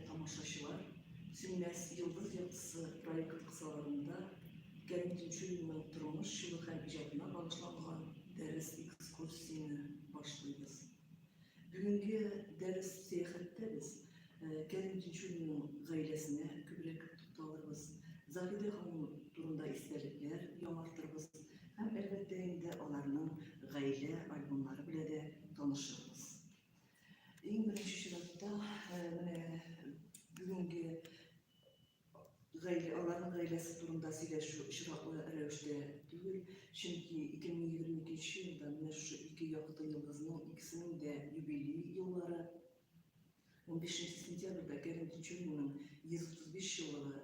Тамашачылар Сүнмәс йолдыз яктысы проекты кысаларында Гәни Тинчуринның тормыш чоры һәм иҗатына багышланган дәрес экскурсияне башлыйбыз. Бүгенге дәрес сәяхәттә без Гәни Тинчуринның гаиләсенә күбрәк тукталырбыз. Заһидә ханым турында истәлекләр яңартырбыз һәм әлбәттә инде аларның гаилә альбомнары белән дә танышырбыз. Иң беренче чиратта менә бүгенге гаилә, аларның гаиләсе турында сөйләшү очраклы рәвештә түгел, чөнки 2022 елда менә шушы ике якты йолдызның икесенең дә юбилей еллары. 15 сентябрьдә Кәрим Тинчуринның 135 еллыгы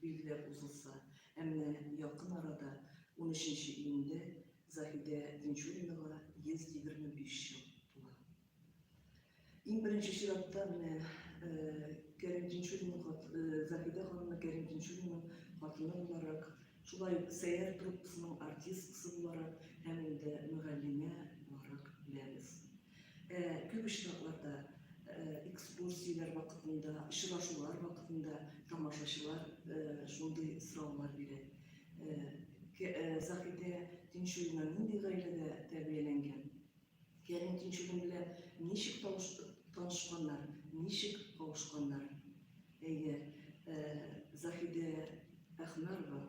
билгеләп узылса, ә менә якын арада, унөченче июньдә Заһидә Динчуринага 125 ел тула. Иң беренче чиратта менә Кәрим Динчуринның Заһидә ханымны Кәрим Динчуринның хатыны буларак, шулай ук Сәйәр труппасының артисткасы буларак һәм инде мөгаллимә буларак беләбез. Күп очракларда экскурсияләр вакытында, очрашулар вакытында тамашачылар шундый сораулар бирә. Заһидә Тинчурина нинди гаиләдә тәрбияләнгән? Кәрим Тинчурин белән ничек танышканнар, ничек кавышканнар? Әйе, Заһидә Әхмәрова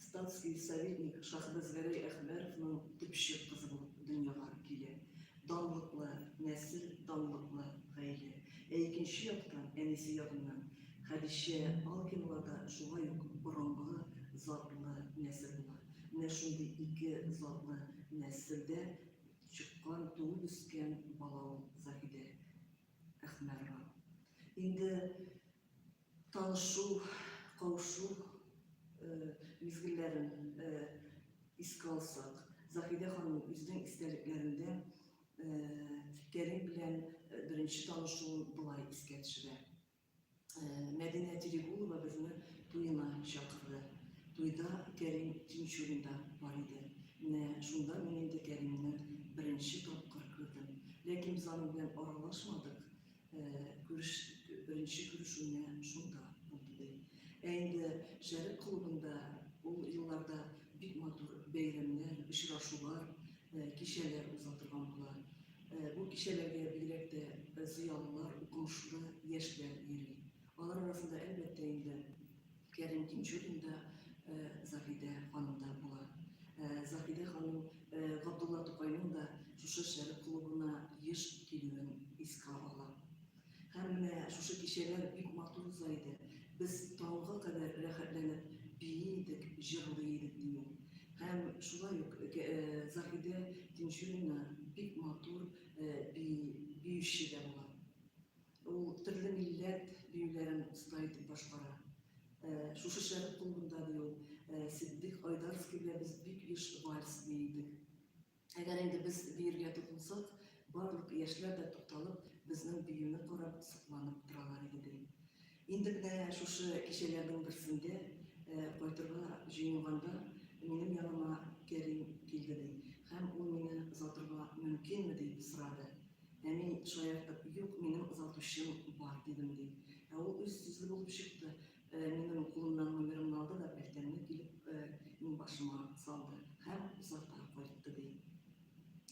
Статский советник Шахбәз Гәрәй Әхбәровның төпчек кызы булып дөньяга килә. Данлыклы нәсел, данлыклы гаилә. Ә икенче яктан, әнисе ягыннан Хәдичә Алкинова да шулай ук борынгы затлы нәсел була. Менә шундый ике затлы нәселдә чыккан, туып үскән бала ул Заһидә Әхмәрова. Инде Танышу, каушу мизгелләрен искә алсак, Заһидә ханым үзенең истәлекләрендә Кәрим белән беренче танышуын болай искә төшерә. Мәдинә Терегулова безне туена чакырды. Туйда Кәрим Тинчуринда бар иде. Менә шунда мин инде Кәримне беренче тапкыр күрдем. Ләкин без аның белән аралашмадык. Беренче күрешүне шунда булды ди. Ә инде Шәрык клубында ул елларда бик матур бәйрәмнәр, очрашулар, кичәләр уза торган була. Бу кичәләргә бигрәк тә зыялылар, укымышлы яшьләр йөри. Алар арасында, әлбәттә инде, Кәрим Тинчурин да, Заһидә ханым да була. Заһидә ханым Габдулла Тукайның да шушы шәрык клубына еш килүен искә ала. Һәм менә шушы кичәләр бик матур уза иде. Без таңга кадәр рәхәтләнеп бии идек, җырлый идек дию. Һәм шулай ук Заһидә Тинчурина бик матур биюче дә була. Ул төрле милләт биюләрен оста итеп башкара. Шушы шәрык клубында ди ул, Ситдык Айдарский белән без бик еш вальс бии идек. Әгәр инде без биергә тотынсак, барлык яшьләр дә тукталып, безнең биюне карап, сокланып торалар иде, ди. Инде менә шушы кичәләрнең берсендә кайтырга җыенганда, минем яныма Кәрим килде, ди, һәм ул мине озатырга мөмкинме дип сорады. Ә мин шаяртып, юк, минем озатучым бар, дидем, ди. Ә ул үз сүзле булып чыкты, э, минем кулымнан номерымны алды да пәлтәмне килеп э, мин башыма салды һәм озата кайтты, ди.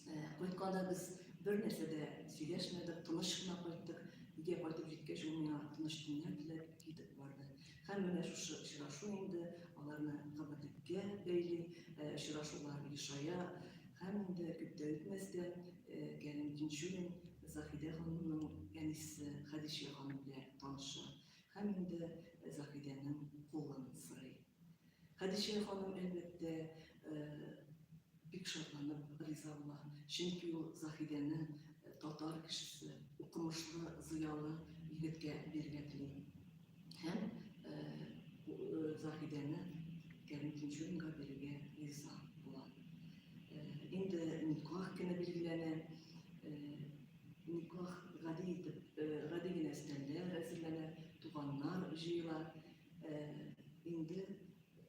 Э, кайтканда без бер нәрсә дә сөйләшмәдек, тыныч кына кайттык. Өйгә кайтып җиткәч, ул миңа тыныч төннәр теләп китеп барды. Һәм менә шушы очрашу инде аларны гомерлеккә бәйли, очрашулар ешая. Һәм инде күп тә үтмәстән Кәрим Тинчурин Заһидә ханымның әнисе Хәдичә ханым белән таныша һәм инде Заһидәнең кулын сорый. Хәдичә ханым, әлбәттә, бик шатланып риза була, чөнки ул Заһидәне татар кешесе, укымышлы, зыялы егеткә бирергә тели. Һәм Заһидәне Кәрим Тинчуринга бирергә риза була. Инде никах көне билгеләнә. Никах гади итеп, гади генә стәндә әзерләнә, туганнар җыела. Инде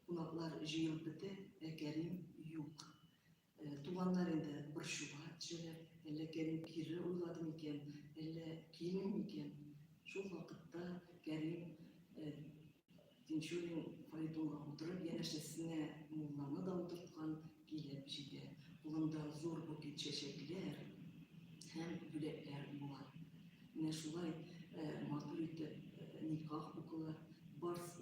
кунаклар җыелып бетә, ә Кәрим юк. Туганнар инде борчуга төшәләр. Әллә Кәрим кире уйлады микән, әллә килми микән? Шул вакытта Кәрим Тинчурин фаэтонга утырып, янәшәсенә мулланы да утырткан, Килеп җитә. Кулымда зур букет чәчәкләр һәм бүләкләр була. Менә шулай матур итеп никах укыла. Барсы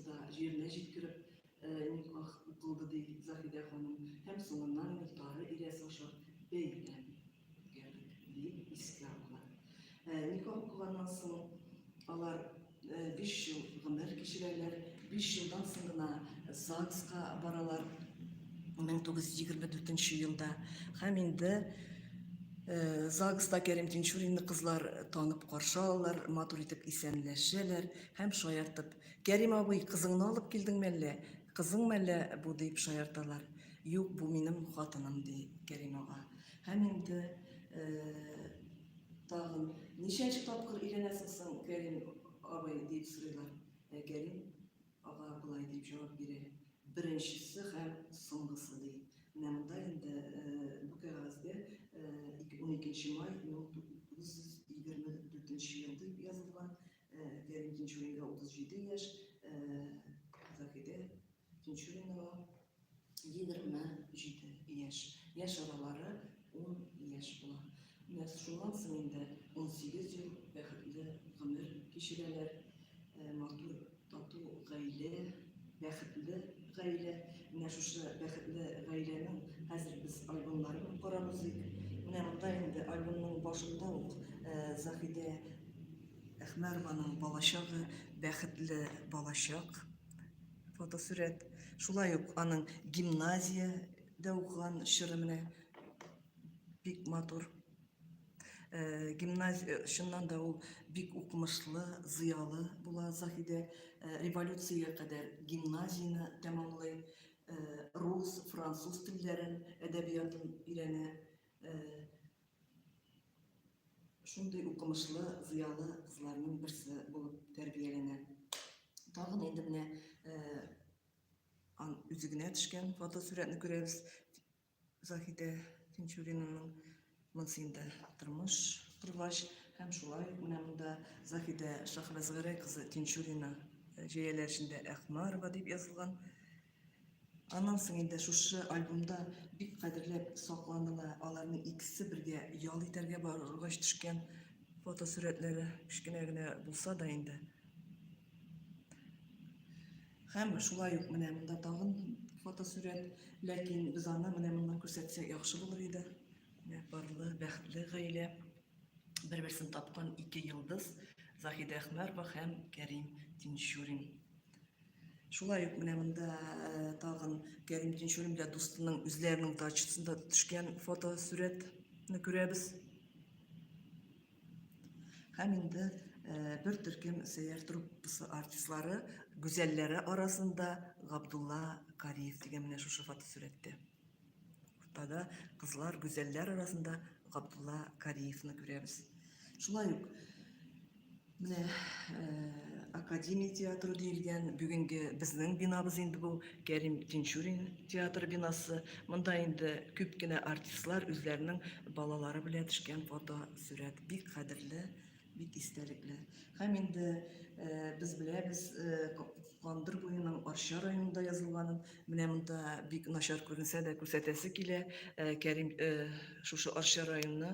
да җиренә җиткереп никах укылды, ди Заһидә ханым. Һәм соңыннан Мохтары Ильяс аша бәйләнде. Никах укыганнан соң алар 5 ел гомер кичерәләр, 5 елдан соң гына ЗАГСка баралар 1924 елда. Һәм инде ЗАГСта Кәрим Тинчуринны кызлар танып каршы алалар, матур итеп исәнләшәләр һәм шаяртып, Кәрим абый, кызыңны алып килдең мәллә, кызың мәллә бу дип шаярталар. Юк, бу минем хатыным, ди Кәрим ага. Һәм инде тагын ничәнче тапкыр өйләнәсең соң, Кәрим абый, дип сорыйлар. Ә Кәрим ага болай дип җавап бирә, беренчесе һәм соңгысы, ди. Менә монда инде бу кәгазьдә 12 май 1924 ел дип язылган. Кәрим Тинчуринга 37 яшь, Заһидә Икенче номеры 27 яшь. Яшь аралары 10 яшь була. Менә шуннан соң инде 18 ел бәхетле гомер кичерәләр. Э, матур, тату гаилә, бәхетле гаилә. Менә шушы бәхетле гаиләнең хәзер без альбомнарын карарбыз иде. Менә монда инде альбомның башында ук э, Заһидә Әхмәрованың балачагы бәхетле балачак фотосурәт шулай ук аның гимназиядә укыган чоры менә бик матур э, гимназия э, чыннан да ул бик укымышлы зыялы була заһидә э, революциягә кадәр гимназияне тәмамлый рус француз телләрен әдәбиятын өйрәнә шундый укымышлы, зыялы кызларның берсе булып тәрбияләнә. Тагын инде менә ан үзе генә төшкән фотосурәтне күрәбез. Заһидә Тинчуринның монысы инде тормыш коргач һәм шулай менә монда Заһидә Шахразгәрәй кызы Тинчурина җәяләр эчендә Әхмарова дип язылган. Аннан соң инде шушы альбомда бик кадерләп сакланына аларның икесе бергә ял итәргә баргач төшкән фотосурәтләре кечкенә генә булса да инде. Һәм шулай ук менә монда тагын фотосурәт, ләкин без аны менә моннан күрсәтсәк яхшы булыр иде. Менә парлы, бәхетле гаилә, бер-берсен тапкан ике йолдыз, Заһидә Әхмәрова һәм Кәрим Тинчурин. Шулай ук менә монда тагын Кәрим Тинчуринда дустының үзләренең дачасында төшкән фотосурәтне күрәбез. Һәм инде бер төркем сәяр труппасы артистлары, гүзәлләре арасында Габдулла Кариев дигән менә шушы фотосурәттә. Уртада кызлар гүзәлләр арасында Габдулла Кариевны күрәбез. Шулай ук менә э, Академия театры диелгән бүгенге безнең бинабыз инде бу Кәрим Тинчурин театр бинасы. Монда инде күп кенә артистлар үзләренең балалары белән төшкән фото, сурәт бик кадерле Бик истәлекле. Һәм инде без беләбез Кандыр буеның Арча районында язылганын. Менә монда бик начар күренсә дә күрсәтәсе килә. Кәрим шушы Арча районы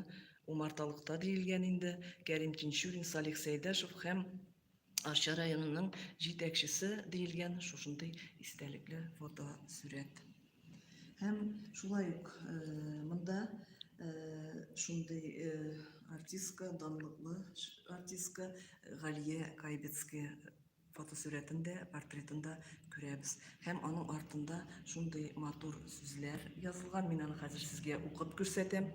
Умарталыкта диелгән инде. Кәрим Тинчурин, Салих Сәйдәшев һәм Арча районының җитәкчесе диелгән шушындый истәлекле фотосурәт. Һәм шулай ук э, монда э, шундый э, артистка, данлыклы артистка Галия Кайбецкая фотосурәтендә, портретында күрәбез. Һәм аның артында шундый матур сүзләр язылган, мин аны хәзер сезгә укып күрсәтәм.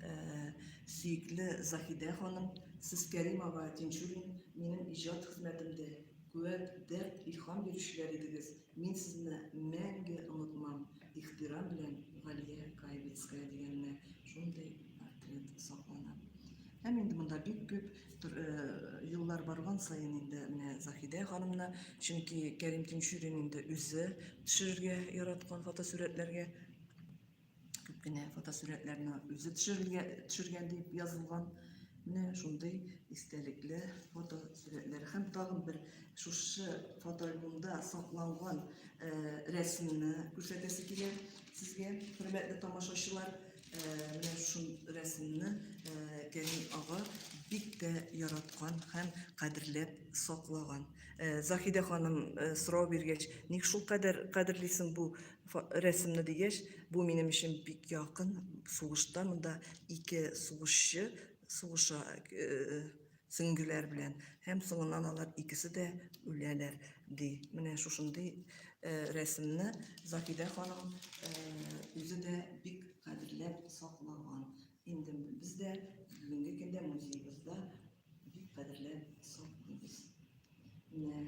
Э, сөекле Заһидә ханым, сез Кәримова Тинчурин минем иҗат хезмәтемдә куәт, дәрт, илһам бирүчеләр идегез. Мин сезне мәңге онытмам. Ихтирам белән Галия Каевицкая дигәненә шундый портрет саклана. Һәм инде монда бик күп еллар барган саен инде менә Заһидә ханымны, чөнки Кәрим Тинчурин инде үзе төшерергә яраткан фотосурәтләргә күп кенә фотосурәтләрне үзе төшерергә төшергән дип язылган. Менә шундый истәлекле фотосурәтләр һәм тагын бер шушы фотоальбомда сакланган рәсемне күрсәтәсе килә сезгә, хөрмәтле тамашачылар. Менә шул рәсемне Кәрим ага бик тә яраткан һәм кадерләп саклаган. Заһидә ханым сорау биргәч, ник шул кадәр кадерлисең бу рәсемне дигәч, бу минем өчен бик якын. Сугышта монда ике сугышчы сугыша сеңгеләр белән һәм соңыннан алар икесе дә үләләр ди. Менә шушындый э, рәсемне Закидә ханым э, үзе дә бик кадерләп саклаган. Инде без дә бүгенге көндә музеебызда бик кадерләп саклыйбыз. Менә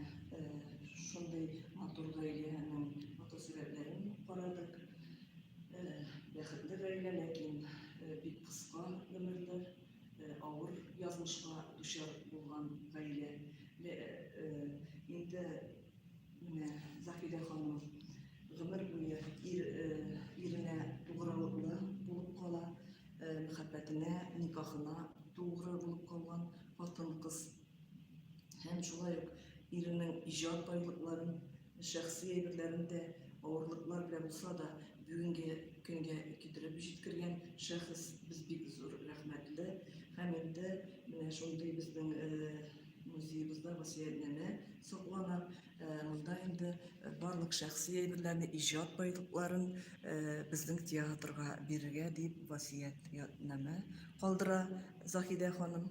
шундый матур гаиләнең фотосурәтләрен карадык. Бәхетле гаилә, ләкин бик кыска гомерләр, авыр язмышка дучар булган гаилә. Инде менә Зафидә ханым гомер буе иренә тугрылыклы булып кала, мәхәббәтенә, никахына тугры булып калган хатын-кыз Һәм шулай ук иренең иҗат байлыкларын, шәхси әйберләрен дә авырлыклар белән булса да бүгенге көнгә китереп җиткергән шәхес без бик зур рәхмәтле һәм инде менә шундый безнең э, музеебызда васыятнамә саклана э, монда инде барлык шәхси әйберләрне иҗат байлыкларын э, безнең театрга бирергә дип васыятнамә калдыра Заһидә ханым